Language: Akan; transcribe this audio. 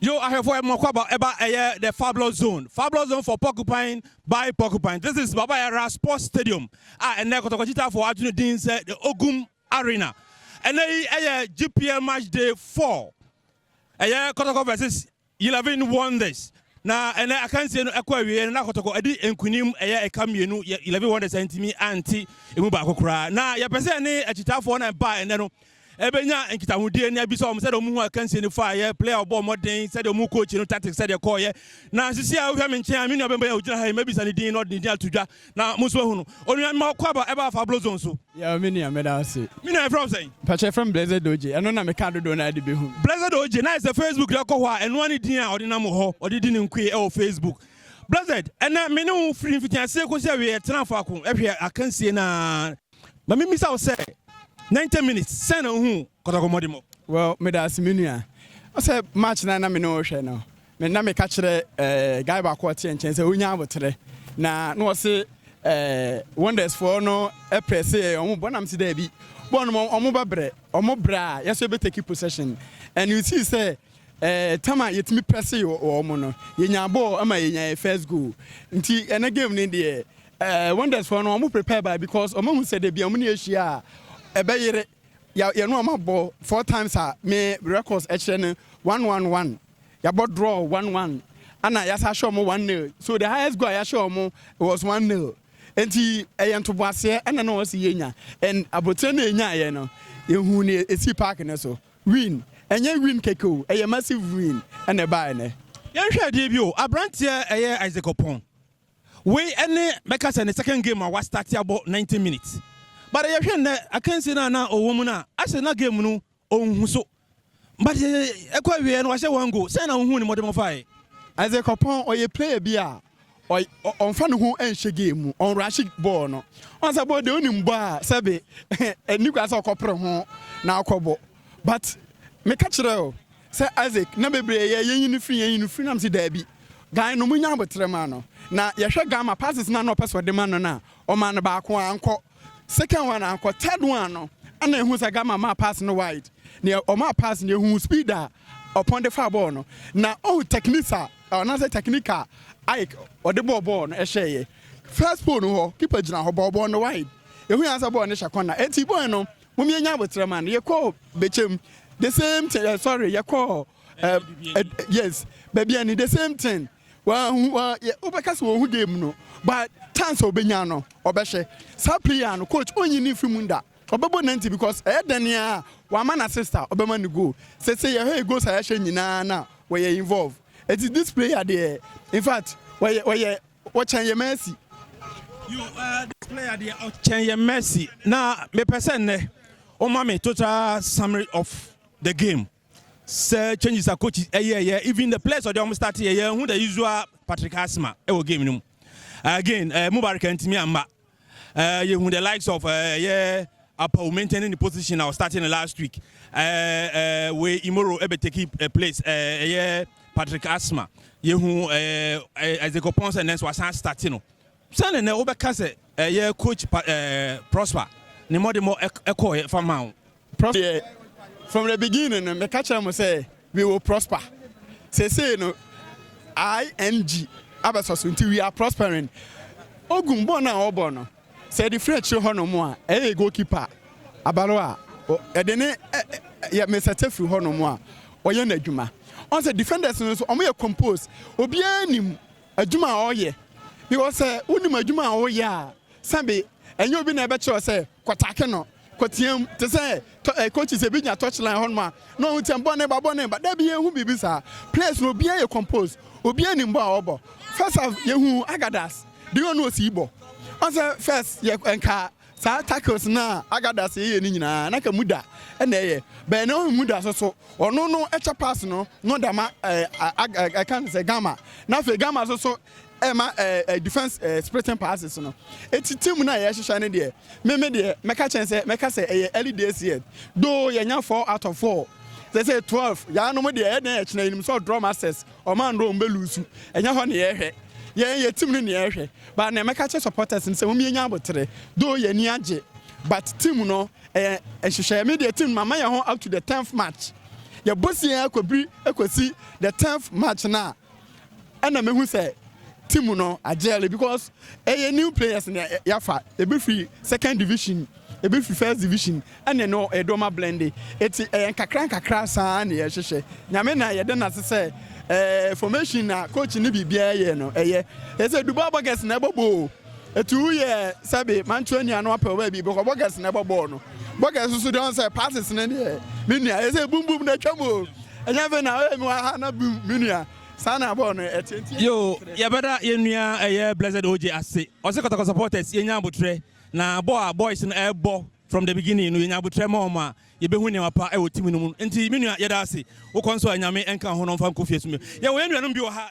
Yo ahwɛfoɔ yɛ mmɔkɔ aba ɛba ɛyɛ the fabulous zone fabulous zone for porcupine by porcupine this is baba yara sports stadium a ɛnɛ kɔtɔkɔkyitafoɔ ato ne din sɛ the ogum arena ɛnɛ yi ɛyɛ gpl match day 4 ɛyɛ kɔtɔkɔ versus 11 wonders na ɛnɛ akansie no ɛkɔ awie no na kɔtɔkɔ ɛdi nkunim ɛyɛ ɛka mmienu 11 wonders ɛntumi anti emu baako koraa na yɛpɛ sɛ ɛne akyitafoɔ na ɛba ɛnɛ no Ɛbɛnya nkitahodie na abisa wɔn sɛdeɛ wɔhunu akansie no faeɛ, player a ɔbɔɔ mmɔden, sɛdeɛ wɔhunu coach no tactics sɛdeɛ ɛkɔeɛ. Na sisi a wohwɛ me nkyɛn a, me nua bɛnbɛn a ɔgyina ha yi, mɛbisa ne din na ɔde ne din ato dwa na mo nso moahunu. Onua, mema wo kwaba ɛba afa Ablo zone so. Yow me nua, meda wo ase. Me nua, yɛfrɛ wo sɛn? Mpakyɛ, yɛfrɛ me Blessed Ogye. Ɛno na meka dodoɔ no ara de bɛhu me. Blessed Ogye, na ayɛ sɛ Facebook deɛ ɔkɔ hɔ a, ɛno ara ne din a ɔde nam wɔ hɔ, ɔde di ne nkoe wɔ Facebook. Blessed, ɛnnɛ me ne wo firi mfitiaseɛ kɔsi awieɛ, tenaa faako hwɛɛ akansie no ara. Ma me mmisa wo sɛ, 90 minutes sɛn na wohuu kɔtɔkɔ mmɔde mu? Well, meda ase me nua. Ɔsɛ match no a na me ne wo rehwɛ no, me na meka kyerɛ eh, guy baako a ɔteɛ nkyɛn sɛ ɔnya aboterɛ. Na na wɔse eh, Wonders foɔ no prɛse yɛ wɔn bɔ, na mese daabi, bɔɔl no ma wɔn bɛbrɛ, wɔn brɛ a yɛso yɛbɛ take possession. And you see sɛ eh, tam a yɛtumi prɛse wɔ wɔn no, yɛnya bɔɔl ma yɛnya yɛ first goal. Nti ɛnɛ game no deɛ, Eh wonders foɔ no ɔmo prepare by because ɔmo ahu sɛ dabi ɔmo ne yɛ hyia a ɛbɛ yere ya yɛne ɔmo abɔ four times a me records ɛkyerɛ no one one one yabɔ draw one one ana yasa ahyɛ ɔmo one nil so the highest goal a yahyɛ ɔmo was one nil enti ɛyɛ ntoboaseɛ ɛna na ɔsi yɛ nya and abotire na enya yɛ no ehu ne esi park ne so win ɛnyɛ win keke o ɛyɛ massive win ɛna ɛbaa ɛnɛ. Yɛnhwɛ ɛdeɛ bi o, aberanteɛ ɛyɛ Isaac Opong. Wei ne mɛka sɛ ne second game a wastarte abɔ ninety minutes but yɛhwɛ nnɛ akansie no a na ɔwɔ mu no a ahyɛ na game no ɔnhu so but ɛkɔ awieɛ no wahyɛ one goal sɛn na wohuu ne mmɔdemmɔ faeɛ? Isaac Oppong ɔyɛ player bi a ɔmfa ne ho nhyɛ game mu, ɔnrushe bɔɔl no. Ɔhu sɛ bɔɔl deɛ wonim bɔ a sɛbe ɛnni kwan sɛ ɔkɔpere ho na akɔbɔ but meka kyerɛ wo Sɛ Isaac, na bebree yɛ yɛnyi no firi, yɛnyi no firi, na mese daabi. Guy no monya aboterɛ ma no, na yɛhwɛ Gamma passes no a na ɔpɛ sɛ ɔde ma no no a, ɔmaa no baako, ankɔ. Second one ankɔ, third one no ɛna yɛhuu sɛ Gamma maa pass no wide. Nea ɔmaa pass no, yɛhuu speed a ɔpɔn de faa bɔɔl no, na ɔhu techniques a, anaasɛ technique a Ike ɔde bɔɔ bɔɔl no hyɛeɛ. First pole no hɔ, keeper gyina hɔ bɔɔ bɔɔl no wide. Yɛhui ara sɛ bɔɔl no hyɛ corner, enti bɔɔl no Mom yɛnya aboterɛ man yɛkɔɔ bɛkyɛm the same thing eh, sorry yɛkɔɔ eh, eh, yes baabi ani the same thing wahu wa yɛ wobɛka sɛ wɔhu game no but chance a ɔbɛnya no ɔbɛhyɛ saa player no coach ɔnyi ne mfiri mu nda ɔbɛbɔ nanti because ɛyɛ dɛn ne a wama na sister ɔbɛma ne goal sɛ sɛ yɛhwɛ goals a yɛhyɛ nyinaa na wɔyɛ involve ɛti this player deɛ in fact wɔyɛ wɔyɛ Wɔkyɛn yɛ Messi. You are the player deɛ ɔkyɛn yɛ Messi. Na mepɛ sɛ nnɛ wɔma me total summary of the game. Sɛ changes a coach ɛyɛɛyɛ even the players ɔde wɔn start yɛ yɛn hu the usual Patrick Asima ɛwɔ game no mu. Again uh, Mubarak ntumi amma eh, yɛhu the likes of eh, ɛyɛ eh, Apaw maintaining the position I was starting the last week. Uh, uh, we Imoro ebe take a place. Uh, yeah, Patrick Asma. Yehu uh, uh, Ezekiel Ponce and then so asan starting no. Sane na wobɛka sɛ ɛyɛ coach uh, Prosper ne mɔde mɔ ɛkɔ fa ma wo Prof deɛ from the beginning no meka kyerɛ mo sɛ we will prosper seesei no ING abɛsɔ so nti we are prospering Ogum bɔɔl no a ɔbɔ no sɛ yɛde firi akyire hɔ nom a ɛyɛ yɛ goal keeper abalo a yɛde ne yɛ mesɛte firi hɔ nom a ɔyɛ n'adwuma ɔn sɛ defenders no nso ɔmo yɛ compose obiara nim adwuma a ɔyɛ because sɛ wonim adwuma a woyɛ a sɛbe ɛnyɛ obi na ɛbɛkyerɛ sɛ kɔtake no kɔteam te sɛ eh, coaches ebi nya touch line hɔ noma na ɔhu sɛ bɔ ne ba bɔ ne ba da bi yɛhu biribi saa players no obiara yɛ compose obiara nim bɔ a ɔbɔ first half yɛhu agadas deɛ ɔno osi bɔ ɔsɛ first yɛ nka Saa tacos no a Agadas yɛyɛ no nyinaa, na ka muda na ɛyɛ. Bɛn na ɔyɛ muda so so? Ɔno no ɛkyɛ pass no no da ma ɛka ne sɛ gamma, na afei gamma so so ɛma defense splitting passes no. Eti team no a yɛhyehyɛ no deɛ, me me deɛ, mɛka kyɛn sɛ mɛka sɛ ɛyɛ early days yet, though yɛnya four out of four, sɛsɛɛ twelve, yɛanom deɛ ɛyɛ dɛn ɛkyena, yɛnim sɛ ɔdrɔ masters. Ɔman no ɔmo bɛ luusu, ɛnyɛ hɔ ne yɛɛhwɛ, yɛn yɛ team no ne yɛɛhwɛ, but nea mɛka akyerɛ supporters ne sɛ wɔn yɛnya aboterɛ, though yɛn ani agye, but team no ɛyɛ nhyehyɛɛ, me deɛ team no mama yɛn ho up to the tenth match, yɛ boss yɛn akɔbiri ɛkɔsi the tenth match no a ɛna mɛhu sɛ team no agyɛɛle because ɛyɛ new players na yɛafa, ɛbɛfiri second division. Ebi fi first division ɛne no ɛdoma blende eti ɛyɛ nkakra nkakra saa na yɛhyehyɛ nyame na yɛda no ase sɛ ɛɛ formation na coach ne biribiara yɛ no ɛyɛ ɛsɛ dubai buckets na ɛbɔ bɔɔl eti woyɛ sɛbe mantua nua no apɛw baabi bɛkɔ buckets na ɛbɔ bɔɔl no buckets nso deɛ ɔn sɛ passes ne deɛ me nua ɛsɛ bum bum na atwa mu o ɛnyɛ afei na ɔyɛ mi wɔ ha na bum me nua saa na bɔɔl no ɛteɛ nti. Yo, yɛbɛda yɛn nua ɛyɛ Blessed OJ ase. Ɔse Kɔtɔkɔ supporters yɛnya abotrɛ. Na bɔ a boys no ɛɛbɔ from the beginning no yɛnya abotrɛ ma wɔn a yɛbɛhu nneɛma pa ɛwɔ team no mu. Nti me nua yɛda ase wokɔ nso a Nyame nka wo ho na ɔmfa nkɔ fie so mbio. Yɛwɔ yɛn nuanom bi wɔ ha.